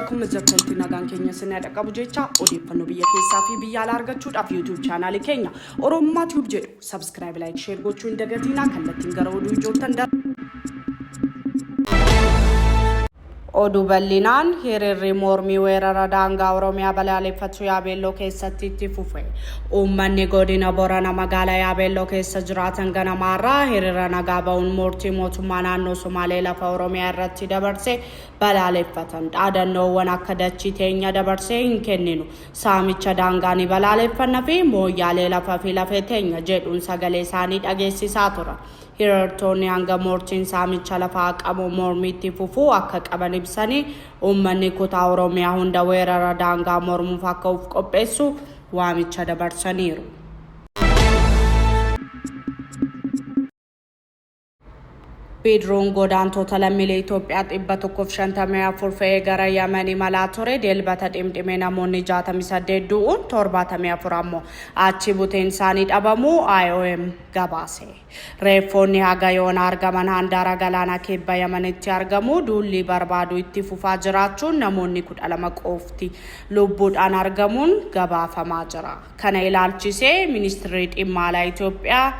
Akkuma jirtanitti nagaan keenya sinaa dhaqqabu jecha odeeffannoo biyya keessaa fi biyya alaa argachuudhaaf YouTube chaanaalii keenya Oromummaa Tube jedhu subscribe, like, share gochuu hin dagatinaa kallattiin gara oduu ijoottan darba. Oduu bal'inaan, Hiriirri mormii weerara daangaa Oromiyaa balaaleffatu Yaabeelloo keessatti itti fufe. Uummanni godina Borana magaalaa Yaabeelloo keessa jiraatan ganamaa irraa hiriira nagaa ba'uun murtii mootummaa naannoo Somaalee lafa Oromiyaa irratti dabarse balaaleffatan. Dhaadannoowwan akka dachii teenya dabarsee hin kenninu, saamicha daangaa ni balaaleffanna fi Mooyyaalee lafa fi lafee teenya jedhuun sagalee isaanii dhageessisaa turan. Hirartoonni hanga mortiin saamicha lafaa haqamu mormii itti fufuu akka qaban ibsanii, uummanni kutaa Oromiyaa hunda weerara daangaa mormuuf akka uf qopheessu waamicha dabarsaniiru. Bidiruun godaantoota lammiilee Itoophiyaa 154 fe'ee gara Yaman imalaa ture Dilbata dhimdhimee namoonni 68 du'uun 74 ammoo achi buteen isaanii dhabamuu IOM gabaase. Reeffoonni haga yoonaa argaman handaara galaana kibba Yamanitti argamu. Duulli barbaaduu itti fufaa jiraachuun namoonni 12 qofti lubbuudhaan argamuun gabaafamaa jira. Kana ilaalchisee Ministirri Dhimma Alaa Itoophiyaa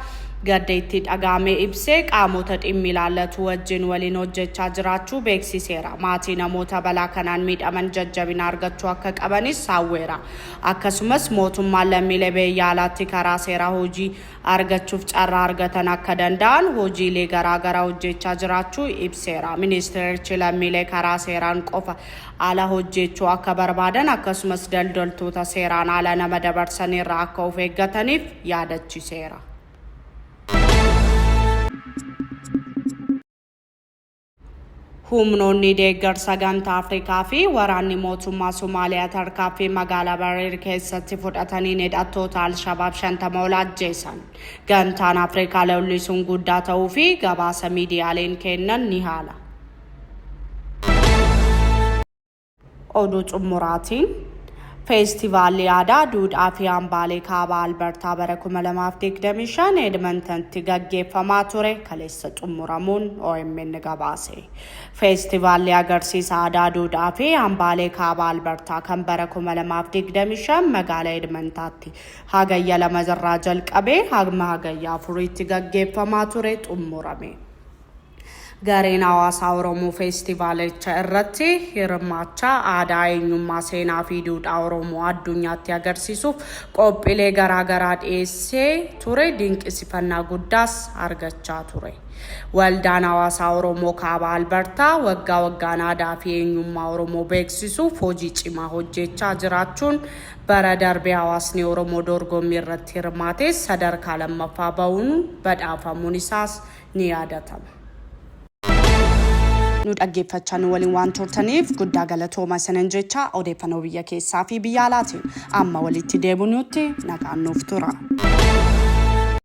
gadda itti dhaga'ame ibsee qaamota dhimmi ilaallatu wajjin waliin hojjechaa jiraachuu beeksiseera. Maatii namoota balaa kanaan miidhaman jajjabina argachuu akka qabanis hawweera. Akkasumas mootummaan lammiilee beeyya alaatti karaa seeraa hojii argachuuf carraa argatan akka danda'an hojiilee garaa garaa hojjeechaa jiraachuu ibseera. Ministeerichi lammiilee karaa seeraan qofa ala hojjeechuu akka barbaadan akkasumas daldaltoota seeraan ala nama dabarsan irraa akka of eeggataniif yaadachiseera. Humnoonni deeggarsa Gamtaa Afrikaa fi waraanni mootummaa Somaaliyaa tarkaanfii magaalaa Bareer keessatti fudhataniin hidhattoota Alshabaab shantama ol ajjeesan. Gamtaan Afrikaa lolli sun guddaa ta'uu fi gabaasa miidiyaaleen kennan ni haala. Oduu xumuraatiin Feestivaalli aadaa duudhaa fi hambaalee kaabaa Albertaa bara 2025 Edmontontti gaggeeffamaa ture kaleessa xumuramuun OMN gabaase. Feestivaalli agarsiisa aadaa duudhaa fi hambaalee kaabaa Albertaa kan bara 2025 magaala Edmontaatti hagayya lama irraa jalqabee hagma hagayya afuriitti gaggeeffamaa ture xumurame. Gareen hawaasaa Oromoo feestivaalicha irratti hirmaachaa aadaa, eenyummaa, seenaa fi duudhaa Oromoo addunyaatti agarsiisuuf qophiilee garaa garaa dhiyeessee ture dinqisifannaa guddaas argachaa ture. Waldaan hawaasaa Oromoo Kaaba Albartaa waggaa waggaan aadaa fi eenyummaa Oromoo beeksisuuf hojii cimaa hojjeechaa jiraachuun bara darbe hawaasni Oromoo dorgommii irratti hirmaatee sadarkaa lammaffaa bahuun badhaafamuun isaas ni yaadatama. Nu dhaggeeffachaa nu waliin waan turtaniif guddaa galatooma isinan jecha odeeffannoo biyya keessaa fi biyya alaatiin amma walitti deebinuutti nagaan nuuf tura.